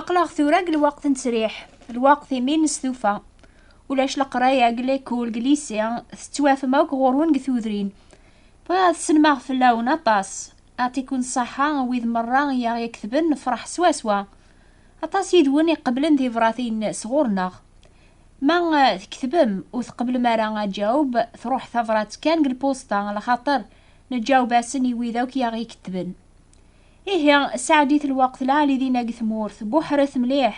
aqlaɣ tura deg lweqt n ttesriḥ lweqt imi nestufa ulac leqraya deg lekul deg lisi tettwafem akk ɣurwen deg tudrin bɣiɣ ad sselmaɣ fell-awen aṭas atikun ṣaḥa wid merra i aɣ-iketben nefṛeḥ swaswa Aṭas yid-wen iqeblen tibṛatin sɣur-neɣ. Ma tketbem ur tqeblem ara aǧaweb, truḥ tabṛat kan deg lpusṭa, lxaṭer neǧaweb-asen i wid akk i aɣ-ikettben. Ihi, sseɛdit lweqt lɛali dinna deg tmurt, buḥret mliḥ.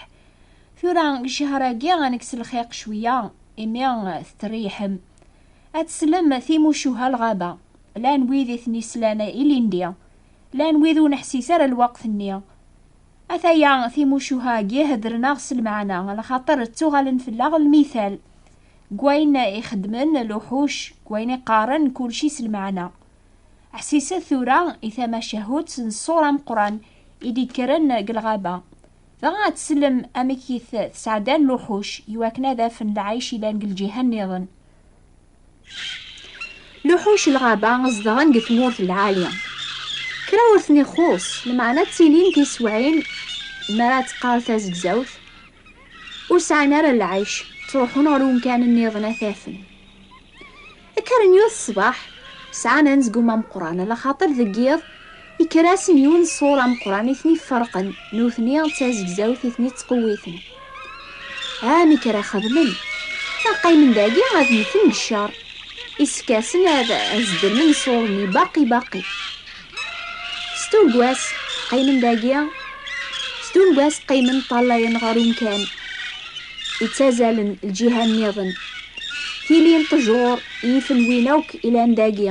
Tura, deg ccehr-agi ad nekkes lxiq cwiya, imi tettreyḥem. Ad teslem timucuha lɣaba. Llan wid i ten-islan ilindi. Llan wid ur neḥsis ara lweqt-nni. Ataya timucuha-agi heddren-aɣ s lmeɛna, lxaṭer ttuɣalen fell-aɣ lmital. Deg wayen i xeddmen luḥuc, deg wayen i qqaren, kulci s lmeɛna. Ḥsiset tura i tamacahut n ṣṣur ameqqran i d-yekkren deg lɣaba. Dɣa ad tsellem amek i t-sɛeddan luḥuc i wakken ad afen lɛic yellan deg lǧiha nniḍen. Luḥuc lɣaba zedɣen deg tmurt lɛali. Kra ur ten-ixuṣṣ, lmeɛna ttilin tiswiɛin mi ara teqqar tazegzawt, ur sɛin ara lɛic, ttruḥun ɣer umkan nniḍen ad t-afen. Kkren yut ṣṣbeḥ, sɛan anezgum ameqqran, ala xaṭer deg yiḍ Ikker-asen yiwen ṣṣur ameqqran i ten-iferqen, nutni d tazegzawt i ten-ittqewwiten. Ah, mi kra xedmen, ma qqimen dagi ad mmten deg ccer, isefk-asen ad zedrmen ṣṣur-nni baqi baqi. S tuggas qqimen dagi, s tuggas qqimen ṭṭalayen ɣer umkan ittazalen lǧiha nniḍen. Tili n ṭṭjur i ifen win akk ilan dagi.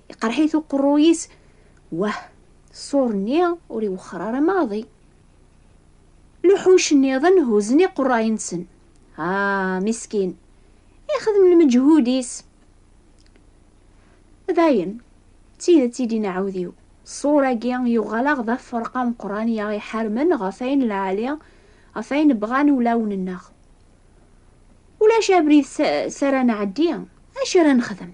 Iqerḥ-it uqerruy-is, wah, ṣṣur-nni ur iwexxer ara maḍi. Luḥuc nniḍen huzen iqerray-nsen. Ah, miskin, ixdem lmeǧhud-is. Dayen, d tidet i din aɛudiw, ṣṣur-agi yuɣal-aɣ d afferq ameqqran i aɣ-iḥarmen ɣef ayen lɛali, ɣef ayen bɣan wulawen-nneɣ. Ulac abrid s ara nɛeddi, acu ara nexdem?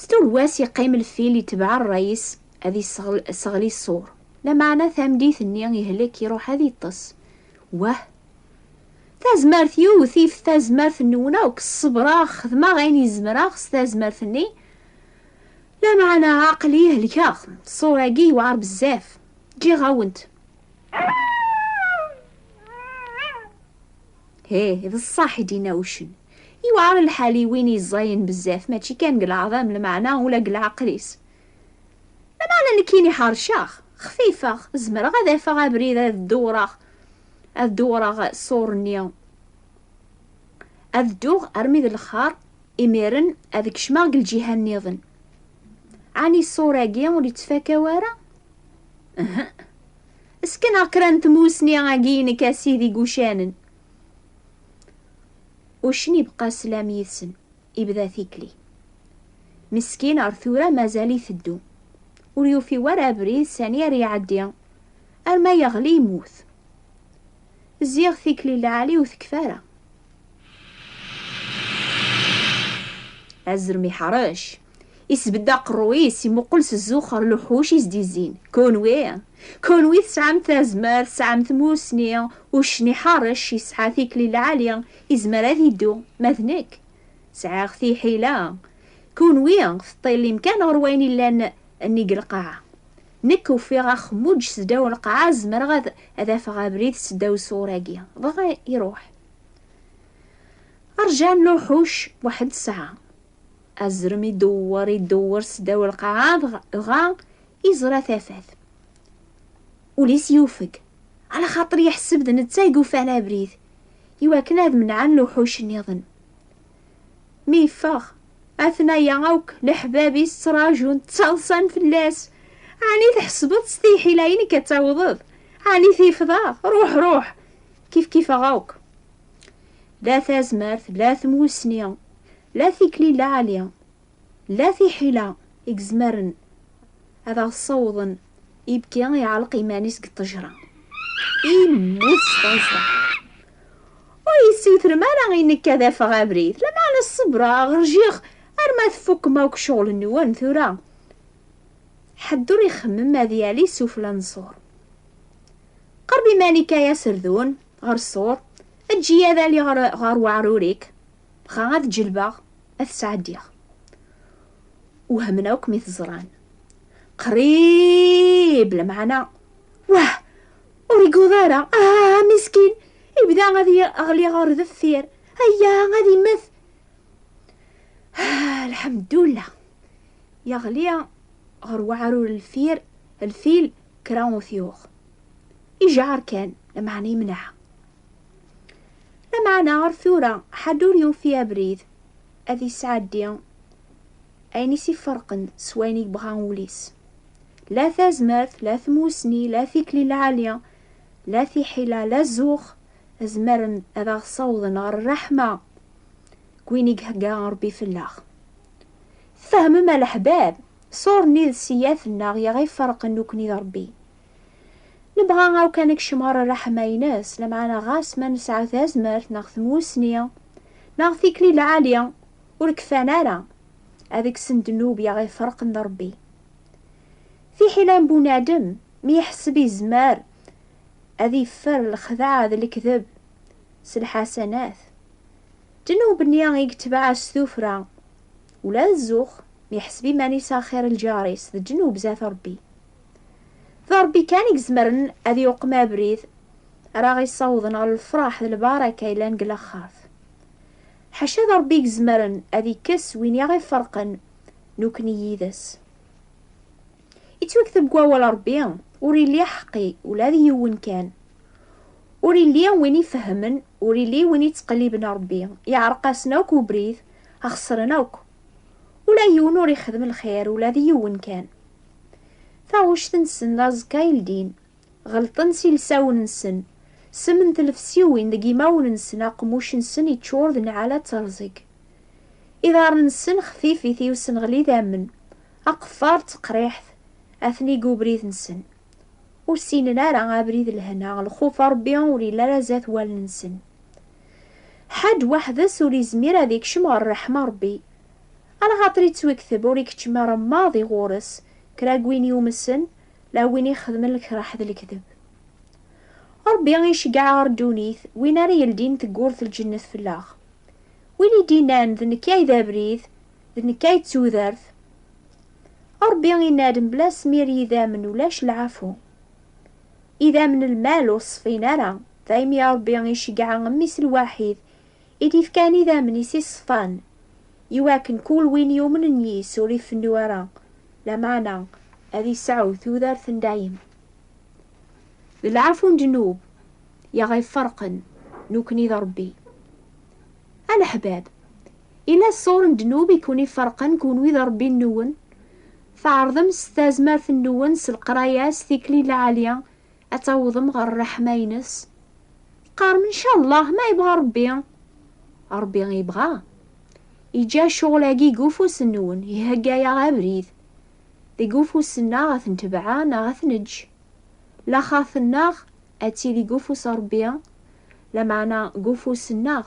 S tugwas yeqqim lfil yetbeɛ rray-is ad yesseɣli ṣṣur. Lameɛna tamdit-nni ihlek iruḥ ad yeṭṭes. Wah! Tazmert yiw tif tazmert-nniwen akk, ṣebreɣ, xedmeɣ ayen izemreɣ s tazmert-nni, lameɛna aql-i helkeɣ, ṣṣur-agi yewɛer bezzaf. Ǧǧiɣ-awen-t. Hih, d ṣṣeḥ i d-yenna uccen. Yewɛer lḥal i win yeẓẓayen bezzaf, mačči kan deg leɛḍam, lmeɛna ula deg leɛqel-is. Lameɛna nekkini ḥerceɣ, xfifeɣ, zemreɣ ad afeɣ abrid ad dewwreɣ, ad dewwreɣ ṣṣur-nni, ad dduɣ armi d lexxar, imiren ad kecmeɣ deg lǧiha nniḍen. Ɛni ṣṣur-agi ur yettfaka wara? Uhuh! Skeneɣ kra n tmussni agi i nekk a sidi deg ucanen. Uccen ibqa slam yid-sen, ibda tikli. Meskin ar tura mazal iteddu. Ur yufi wara abrid sani ar iɛeddi, arma yeɣli yemmut. Ziɣ tikli lɛali ur tekfi ara. Azrem iḥṛec, Isbedd aqerru-is, imuqel s zzux ɣer luḥuc i s-d-izzin, Kunwi! Kunwi tesɛam tazmert, tesɛam tmussni, uccen iḥeṛṛec, yesɛa tikli lɛali, izmer ad iddu, ma d nekk, sɛiɣ tiḥila! Kunwi teṭṭilim kan ɣer wayen illan nnig lqaɛa. Nekk ufiɣ axemmuǧ seddaw lqaɛa, zemreɣ ad ad afeɣ abrid seddaw ṣṣur-agi. Dɣa iṛuḥ. Ṛjan luḥuc weḥd ssaɛa. Azrem idewwer, idewwer sdaw lqaɛa, dɣa iẓra tafat. Ul-is yufeg, ala xaṭer yeḥseb d netta i yufan abrid, i wakken ad menɛen lewḥuc nniḍen. Mi yeffeɣ, atnaya akk leḥbab-is ttraǧun, ttaḍsan fell-as, Ɛni tḥesbeḍ s tiḥila-inek ad tawḍeḍ? Ɛni tifeḍ-aɣ? Ruḥ, ruḥ! Kifkifeɣ akk. La tazmert, la tmussni, la tikli lɛali, la tiḥila i yezmaren ad aɣ-ssawḍen ibki iɛelleq iman-is deg ṭejra, immut s taẓra. Ur yessutrem ara i nekk ad afeɣ abrid, lameɛna ṣebreɣ, rjiɣ arma tfukem akk ccɣel-nwen, tura ḥedd ur ixemmem ad yali sufella n ṣṣur. Qerreb iman-ik ay aserdun, ɣer ṣṣur, eǧǧ-iyi ad aliɣ ɣer weɛrur-ik, dɣa ad ǧelbeɣ, ad t-sɛeddiɣ. Wehmen akk mi t-ẓran. Qrib, lameɛna, wah! Ur iguḍ ara, ah, miskin! Ibda ad yeɣli ɣer deffir, aya, ad immet! Ah, lḥemdullah! Yeɣli ɣer weɛrur lfir, lfil, kra ur t-yuɣ. Ijeɛr kan, lameɛna yemneɛ. Lameɛna ɣer tura ḥedd ur yufi abrid ad yesɛeddi ayen i s-iferqen s wayen yebɣa wul-is. La tazmert, la tmussni, la tikli lɛali, la tiḥila, la zzux, zemren ad aɣ-ssawḍen ɣer rreḥma n win i ihegga Rebbi fell-aɣ. Tfehmem a leḥbab? Ṣur-nni d sseyaf-nneɣ i aɣ-iferqen nekkni d Ṛebbi. Nebɣa akk ad nekcem ɣer ṛṛeḥma-ines, lameɛna ɣas ma nesɛa tazmert neɣ tmussni neɣ tikli lɛali, ur kfan ara ad kksen ddnub i aɣ-iferqen d Ṛebbi. Fiḥel am bunadem mi iḥesseb yezmer ad yeffer lexdeɛ d lekdeb s lḥasanat, ddnub-nni i yetbeɛ s tuffra Ula d zzux, mi iḥseb iman-is axir n lǧar-is d ddnub zdat Ṛebbi. D Ṛebbi kan i izemren ad iqem abrid ara aɣ-isawḍen ɣer lefṛaḥ d lbaraka yellan deg laxert. Ḥaca d Ṛebbi i izemren ad ikkes win i aɣ-iferqen nekkni yid-s. Yettwakteb deg Wawal n Ṛebbi, Ur illi aḥeqqi, ula d yiwen kan. Ur illi win ifehhmen, ur illi win ittqelliben Ṛebbi. Yeɛreq-asen akk ubrid a xesren akk. Ula yiwen ur ixdem lxir ula d yiwen kan. Taɣuct-nsen d aẓekka i ldin. Ɣelṭen s ilsawen-nsen. Sem n tlefsiwin deg imawen-nsen aqemmuc-nsen iččur d nɛala d terẓeg. Iḍarren-nsen xfifit i usenɣel idammen, aqeffer d teqriḥt atni deg ubrid-nsen. Ur ssinen ara abrid lehna, lxuf Rebbi ur yelli ara zdat wallen-nsen. Ḥaǧ weḥd-s ur izmir ad ikcem ɣer ṛṛeḥma Ṛebbi. Ala xaṭer ittwekteb ur ikeččem ara maḍi ɣur-s kra n win yumsen la win ixedmen lekraḥ d lekdeb. Ṛebbi iceggeɛ ɣer ddunit win ara yeldin teggurt n lǧennet fell-aɣ. Win i d-innan d nekk ay d abrid, d nekk ay d tudert. Ṛebbi inna-d mebla asmir yidammen ulac lɛafu. Idammen n lmal ur ṣfin ara, daymi Ṛebbi iceggeɛ Mmi-s lwaḥid, i d-ifkan idammen-is i ṣṣfan, i wakken kul win yumnen yis ur ifennu ara, lameɛna ad isɛu tudert n dayem. D lɛafu n ddnub i aɣ-iferqen nukni d Ṛebbi. A leḥbab, yella ṣṣur n ddnub i ken-iferqen kunwi d Ṛebbi-nwen? Tɛerḍem s tazmert-nwen s leqraya s tikli lɛali ad tawḍem ɣer ṛṛeḥma-ines. Teqqarem ncallah ma yebɣa Ṛebbi. Ṛebbi yebɣa. Yeǧǧa ccɣel-agi deg ufus-nwen, ihegga-yaɣ abrid. Deg ufus-nneɣ ad t-netbeɛ neɣ ad t-neǧǧ. Laxert-nneɣ ad tili deg ufus Ṛebbi, lameɛna deg ufus-nneɣ.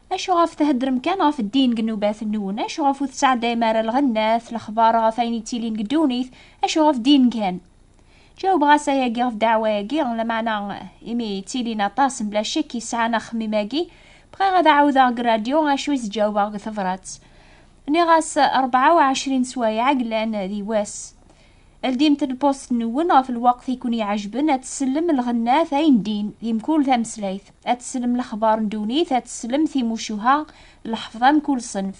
Acu ɣef theddrem kan ɣef ddin deg nnubat-nwen? Acu ɣef ur tesɛeddayem ara lɣennat, lexbar ɣef ayen yettilin deg ddunit? Acu ɣef ddin kan? Ǧawbeɣ-as ayagi ɣef ddeɛwa-agi, lameɛna imi ttilin aṭas mebla ccekk yesɛan axemmim-agi, bɣiɣ ad ɛawdeɣ deg rradyu acu i s-ǧawbeɣ deg tebrat. Nniɣ-as rebɛa u ɛecrin sswayeɛ i yellan di wass. Ldimt lpost-nwen ɣef lweqt i ken-iɛejben, ad tsellem lɣennat ay ndin di mkul tameslayt, ad tsellem lexbar n ddunit, ad tsellem timucuha d lḥefḍa mkul ṣenf.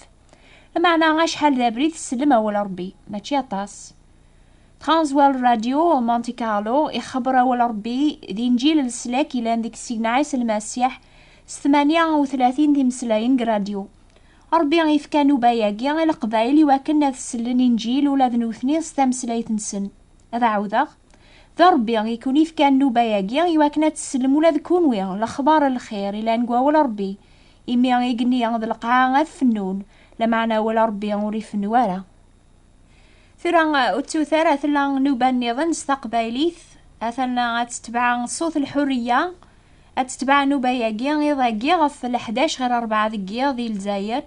Lmeɛna acḥal d abrid tsellem awal Rebbi? Mačči aṭas. Transworld Radio Monte Carlo ixebber awal Rebbi d Inǧil leslak yellan deg Sidna Ɛisa Lmasiḥ s tmanya u tlatin timeslayen deg radyu. Ṛebbi ifka anuba-agi i Leqbayel iwakken ad sellen Inǧil ula d nutni s tameslayt-nsen. Ad ɛawdeɣ, D Ṛebbi i ken-ifkan nnuba-agi iwakken ad tsellem ula d kunwi lexbaṛ n lxir ilan deg wawel Ṛebbi, imi i gen-i d lqaɛa ad fennun, lameɛna awal Ṛebbi ur ifennu ara. Tura ur ttut ara tella nuba nniḍen s taqbaylit, atan ad tetbeɛ ṣut lḥuriya, ad tetbeɛ nuba-agi iḍ-agi ɣef leḥdac ɣir rebɛa deg yiḍ di Lezzayer,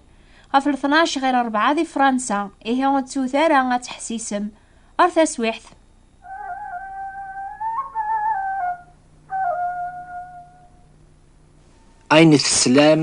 ɣef leṭnac ɣir rebɛa di Fransa, ihi ur ttut ara ad teḥsisem. Ar taswiɛt! Ayen teslam.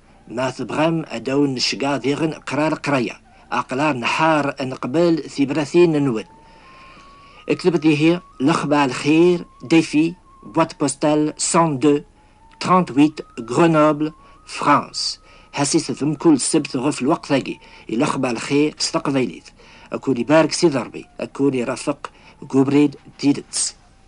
Ma tebɣam ad awen-necgeɛ diɣen qrar qraya, aqlar nḥar ad neqbel tibratin-nwen. Ektebet ihi lexbar lxir, Défi, boîte postale 102 38 Grenoble, France. Ḥasit-t mkul ssebt ɣef lweqt-agi i lexbar lxir s teqbaylit. Ad kwen ibarek Sidi Ṛebbi, ad kwen irafeq deg ubrid n tidet.